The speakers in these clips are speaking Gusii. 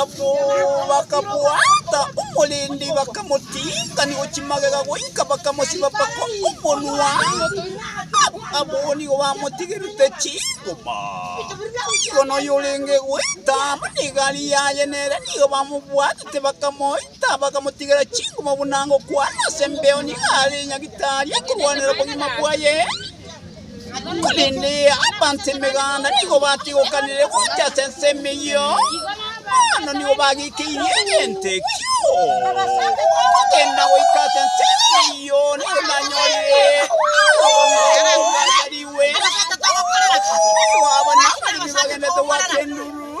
Abwo bakabwata omorindi, bakamoting'ani gochia magega goika bakamosiba mpaka omonwa. Abwo nigo bamotigerete chingoma. Igo noyo orenge goita amo negari yaye nere nigo bamobwatete bakamoita, bakamotigera chingoma buna ngokwana ase embeo. Nigo are Nyagitari akorwanera obogima bwaye. Korende abanto emeganda nigo batigokanire gocha ase ensemo eyio, mambano nigo bagikeirie egento ekio. Kogenda goika ase ensemo eyio nigo nanyorire abatomwa baria baaba nabaremi bagendete goaka enduru.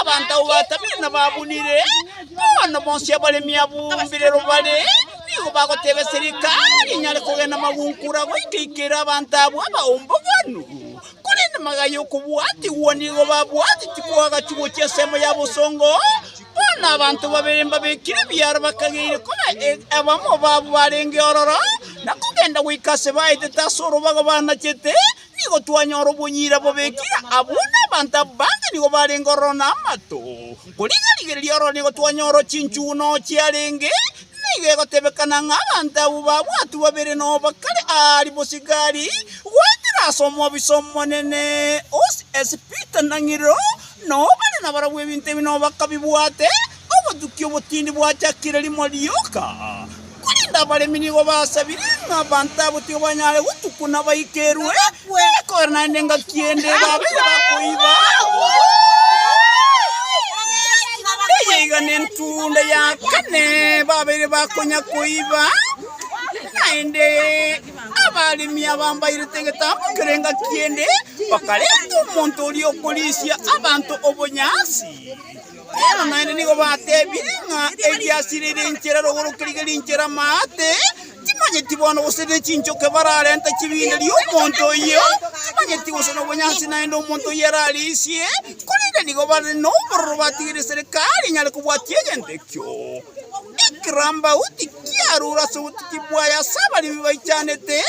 Abanto abwo batabire na babunire, bono bonsi abaremi abumbire robare nigo bagoteba eserika rinyare kogenda magungura goika ikera abanto abwo abaomboganu. Korende magaya y'okobwatigwa nigo babwate tibwagachi gochia ensemo ya bosongo. Bono abanto babere mbabekire ebiara bakageire koba e- abamo babo barenge ororo, na kogenda goika ase baetete ase orobago banachete, Nigo twanyora obonyira bobekire abwo nabanto aba bande nigo barenge ororo namato, korende rigereria ororo nigo twanyora chinchugu noo chiarenge, nigo egotebekana ng'a abanto abwo babwatwe babere noo bakare aari bosigari goetera ase omobisa omonene ose ase Peter na Ng'iro, noo bare nabarabwo ebinto ebi noo bakabibwate Obotuki obotindi bwachakire rimo rioka, korende abaremi nigo basabire ng'a abanto abo tibabanyare gotukwa nabaikerwe ekore naende engaki ende babe bakoiba. Eye iga nentunda ya kane babeire bakonya koiba, naende abaremi abambairete egetambo kere engaki ende bakarenta omonto oria okorisia abanto obonyansi. Eeno, naende nigo batebirie ng'a eriasire ere enchera erogoroke riga rinchera amaate, timanyeti bono gose nechinchoke bararenta chibinderie omonto oyio, timanyeti gose nobonyansi naende omonto oyio ararisie, korende nigo bare nobororo batigeire serikari enyare kobwatia egento ekio. Ekerambagu tikiarure ase obotiti bwaye ase abaremi baichanete,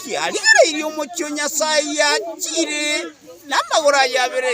kiarigereirie omochie o Nyasaye yachiire. namagoro aye abere.